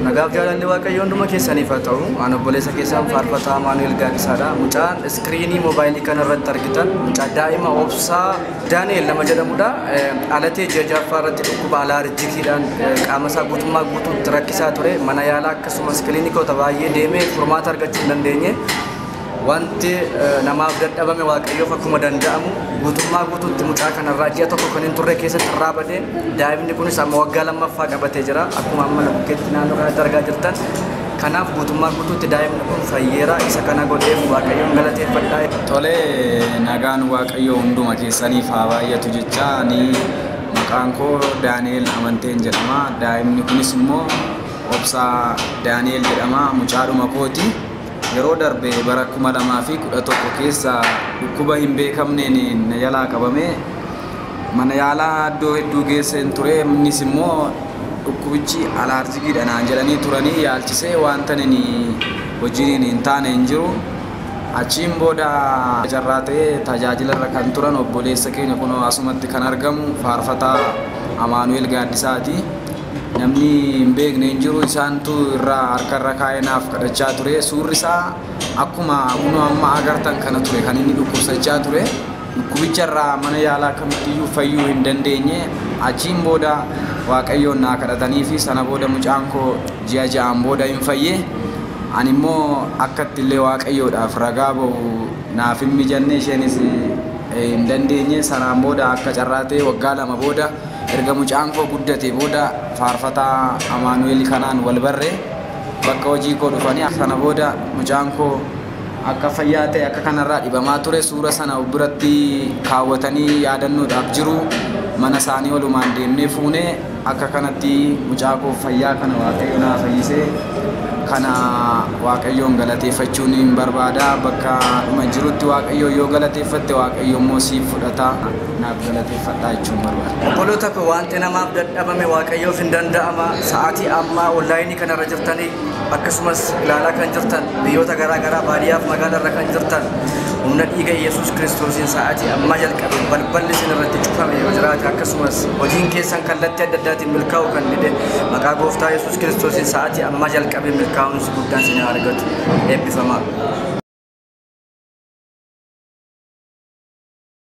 Nagaaf jaalalli waaqayyoo hunduma keessaniif haa ta'u. An obboleessa keessan faarfataa Amaanu'el Gaaddisaadha. Mucaan iskiriinii moobaayilii kana irratti argitan mucaa daa'ima obsaa Daani'el nama jedhamudha. Eh, Alatee ji'a ja'affaa irratti dhukkuba alaarjikiidhaan eh, qaama isaa guutummaa guutuutti rakkisaa ture. Mana yaalaa akkasumas kiliinikoota baay'ee deemee furmaata argachuu hin dandeenye. Wanti namaaf dadhabame Waaqayyoof akkuma danda'amu guutummaa guutuutti mucaa kanarraa ji'a tokko kan hin turre keessatti irraa badee daa'imni kunis amma waggaa lammaffaa qabatee jira akkuma amma bukkeetti naannoo kanatti argaa jirtan kanaaf guutummaa guutuutti daa'imni kun fayyeera isa kana godheef Waaqayyoon galateeffadha. Tole nagaan Waaqayyoo hunduma keessaniif haa baay'atu jecha ani maqaan koo Daani'eel Amanteen jedhama daa'imni kunis immoo Obsaa Daani'eel jedhama mucaadhuma kooti. Yeroo darbe bara 2011 keessa dhukkuba hin beekamneen na jalaa qabamee mana yaalaa iddoo hedduu geesseen ture. Innis immoo dhukkubichi alaarjikiidha naan jedhanii turanii yaalchisee wanta inni hojiin hin taane hin jiru. Achiin booda carraa ta'ee tajaajila irra kan turan obboleessa keenya kunoo asumatti kan argamu faarfataa Amaanu'eel Gaaddisaati. Namni hin beekne hin jiru isaantu irra harka irra kaa'ee naaf kadhachaa ture. Suurri isaa akkuma kunoo amma agartan kana ture kan inni dhukkubsachaa ture. Dhukkubicha irraa mana yaalaa kamittiyyuu fayyuu hin dandeenye. Achiin booda Waaqayyoon naa kadhatanii fi sana booda mucaan koo ji'a ja'aan booda hin fayye. Ani immoo akkatti illee Waaqayyoodhaaf ragaa ba'u naaf hin mijanne isheenis hin dandeenye. Sanaan booda akka carraa ta'e waggaa lama booda Erga mucaan koo guddatee booda faarfataa Amaanu'eel kanaan wal barre. Bakka hojii koo dhufanii sana booda mucaan koo akka fayyaa ta'e akka kanarraa dhibamaa ture suura sana of biratti kaawwatanii yaadannoodhaaf jiru. Mana isaanii walumaan deemnee fuune. Akka kanatti mucaa koo fayyaa kana Waaqayyo naa fayyise. Kana Waaqayyoon galateeffachuun hin barbaada. Bakka dhuma jirutti Waaqayyoon yoo galateeffatte Waaqayyo immoo siif fudhata. naaf galateeffadhaa jechuun barbaada. Obboloota koo wanti namaaf dadhabame waaqayyoof hin danda'ama. Sa'aatii ammaa onlaayinii kanarra jirtanii akkasumas ilaalaa kan jirtan biyyoota garaa garaa baadiyyaaf magaalarra kan jirtan humna dhiiga Yesuus Kiristoosiin sa'aatii ammaa jalqabee balballi isin irratti cufame yoo jiraate akkasumas hojiin keessan kallattii adda addaatiin milkaa'uu kan dide maqaa gooftaa Yesuus Kiristoosiin sa'aatii ammaa jalqabee milkaa'umsi guddaan isin haa argatu eebbifamaa.